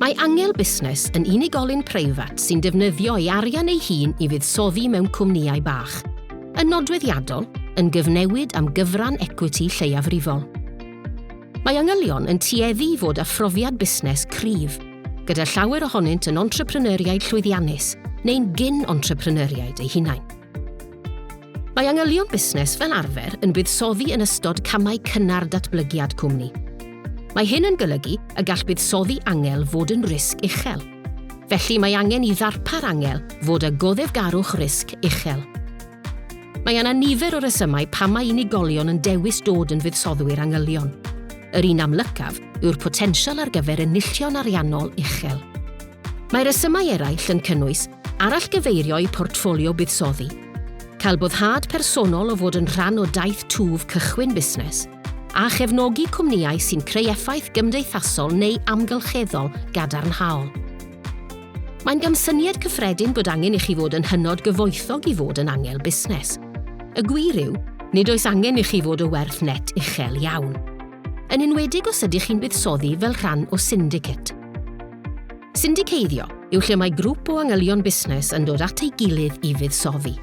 Mae Angel Busnes yn unigolyn preifat sy'n defnyddio ei arian ei hun i fuddsoddi mewn cwmnïau bach. Yn nodweddiadol, yn gyfnewid am gyfran ecwiti lleiafrifol. Mae Angylion yn tueddu i fod â phrofiad busnes cryf, gyda llawer ohonynt yn entrepreneuriaid llwyddiannus neu'n gyn-entrepreneuriaid eu hunain. Mae angylion busnes fel arfer yn buddsoddi yn ystod camau cynnar datblygiad cwmni. Mae hyn yn golygu y gall buddsoddi angel fod yn risg uchel. Felly mae angen i ddarpar angel fod â goddefgarwch risg uchel. Mae yna nifer o resymau pam mae unigolion yn dewis dod yn fuddsoddiwyr angylion. Yr un amlycaf yw'r potensial ar gyfer enillion ariannol uchel. Mae rhesymau eraill yn cynnwys arallgyfeirio i portffolio buddsoddi, cael boddhad personol o fod yn rhan o daith twf cychwyn busnes, a chefnogi cwmnïau sy'n creu effaith gymdeithasol neu amgylcheddol gadarnhaol. Mae'n gamsyniad cyffredin bod angen i chi fod yn hynod gyfoethog i fod yn angel busnes. Y gwir yw, nid oes angen i chi fod o werth net uchel iawn. Yn enwedig os ydych chi'n buddsoddi fel rhan o syndicate. Syndiceddio yw lle mae grŵp o angylion busnes yn dod at ei gilydd i fuddsoddi.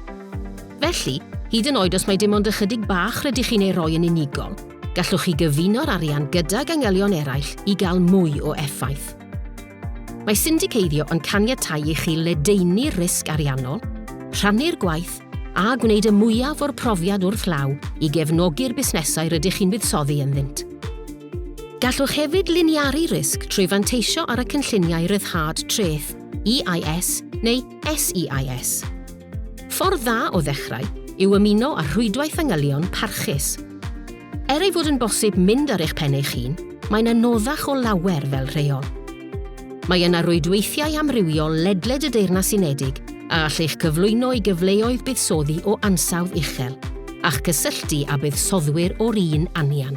Felly, hyd yn oed os mae dim ond ychydig bach rydych chi'n ei roi yn unigol, gallwch chi gyfuno'r arian gydag angylion eraill i gael mwy o effaith. Mae syndiceddio yn caniatáu i chi ledaenu'r risg ariannol, rhannu'r gwaith a gwneud y mwyaf o'r profiad wrth law i gefnogi'r busnesau rydych chi'n buddsoddi ynddynt. Gallwch hefyd liniaru risg trwy fanteisio ar y Cynlluniau Rhyddhad Treth, EIS neu SEIS. Ffordd dda o ddechrau yw ymuno â rhwydwaith fanylion parchus. Er ei fod yn bosib mynd ar eich pen eich hun, mae'n anoddach o lawer fel rheol. Mae yna rwydweithiau amrywiol ledled y Deyrnas Unedig a all eich cyflwyno i gyfleoedd buddsoddi o ansawdd uchel, a'ch cysylltu â buddsoddwyr o'r un anian.